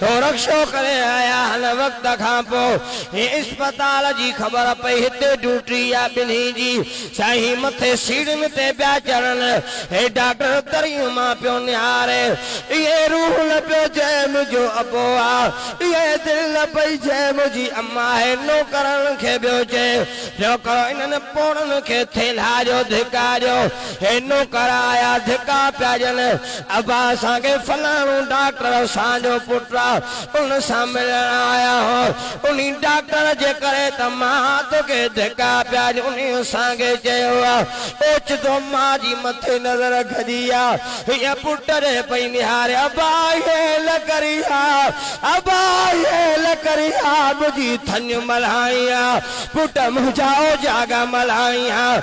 ٿو رڪشو ڪري آيا هن وقت کان پو هي اسپتال جي خبر پئي هتي ڊوٽي آ ٻنهي جي سائين مٿي سيڙهين تي پيا چڙهن هي ڊاڪٽر دريون مان پيو نهاري اهي روح نه پيو جي منهنجو ابو آ اهي دل نه پئي جي منهنجي اما آهي نوڪرن کي پيو چي پيو ڪرو انهن پوڙهن کي ٿيلها جو ڌڪا ڏيو هي نوڪر آيا ڌڪا پيا ڏين ابا اسان کي فلاڻو ڊاڪٽر اسان جو پٽ آ ان سان ملڻ آيا ها انهي ڊاڪٽر جي ڪري ته مان توکي ڌڪا پيا ڏيون انهي اسان کي چيو آ اوچتو ماء جي مٿي نظر کڄي آ هيء پٽ ڏي پئي نهاري ابا هيء لڪري آ ابا هيء لڪري آ ٻڌي ٿڃ ملهائين ها پٽ منهنجا اوجاڳا ملهائين ها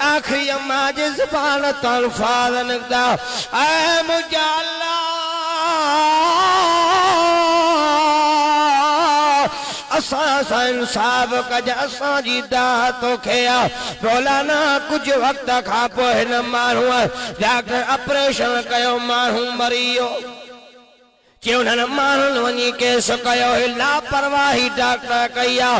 آخري امان جي زبان تان الفاظ نڪتا، اي منهنجا الله! اسان سان انصاف ڪج، اسان جي داد توکي آ. مولانا ڪجهه وقت کان پوء هن ماڻهوء ڊاڪٽر آپريشن ڪيو، ماڻهو مري ويو. چوڏهن ماڻهن وڃي ڪيس ڪيو هي لاپرواهي ڊاڪٽر ڪئي آ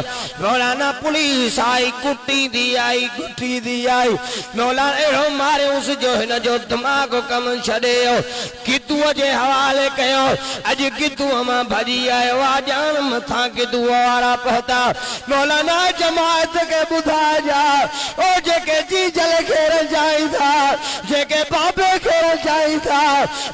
مولانا پوليس آئي ڪٽيندي آئي ڪٽيندي آئي مولانا اهڙو ماريونس جو هن جو دماغ ڪم ڇڏي ويو گدوء جي حوالي ڪيو اڄ گدوء مان ڀڄي آيو آ ڄاڻ مٿان گدوء وارا پهتا مولانا جماعت کي ٻڌائجا او جيڪي جيجل کي رنجائين ٿا جيڪي بابي کي رنجائين ٿا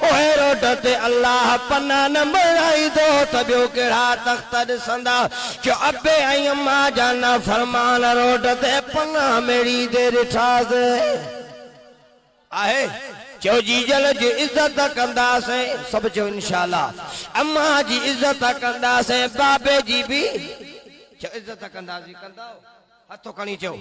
پوء روڊ تي الله پناهه نه بڻائيندو ته ٻيو ڪهڙا تخت ڏسندا جو ابي ۽ اما جا نافرمان روڊ تي پناهه ميڙي تي ڏٺا سين. آهي چيو جيجل جي عزت ڪندا سين. سڀ چيو انشاء الله اما جي عزت ڪندا سين بابي جي به چيو عزت ڪندا سين ڪنداو هٿ کڻي چيو.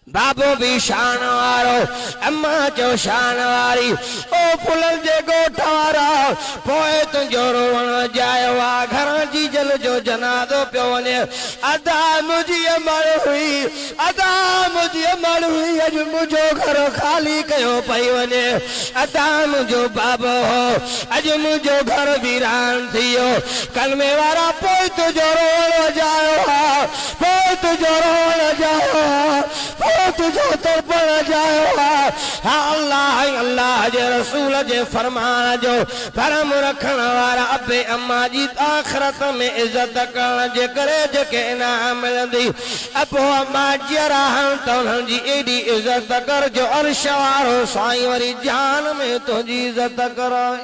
بابو به شان وارو، اما جو شان واري، او ڦلن جي ڳوٺ وارا، پوء تنهنجو روئڻ اجايو آ، گهران جيجل جو جنازو پيو وڃي، ادا منهنجي امڙ هئي، ادا منهنجي امڙ هئي، اڄ منهنجو گهر خالي ڪيو پئي وڃي، ادا منهنجو بابو هو، اڄ منهنجو گهر ويران ٿي ويو، ڪلمي وارا پوء تنهنجو روئڻ اجايو آ. فوت جو روئڻ جايو آ، فوت جو تڙپڻ جايو آ، اھا الله ۽ الله جي رسول جي فرمان جو ڀرم رکڻ وارا ابي اما جي آخرت ۾ عزت ڪرڻ جي ڪري جيڪي انعام ملندي ابو اما جيئرا آھن ته انھن جي ايڏي عزت ڪر جو عرش وارو سائين وري جھان ۾ تنھنجي عزت ڪرائي.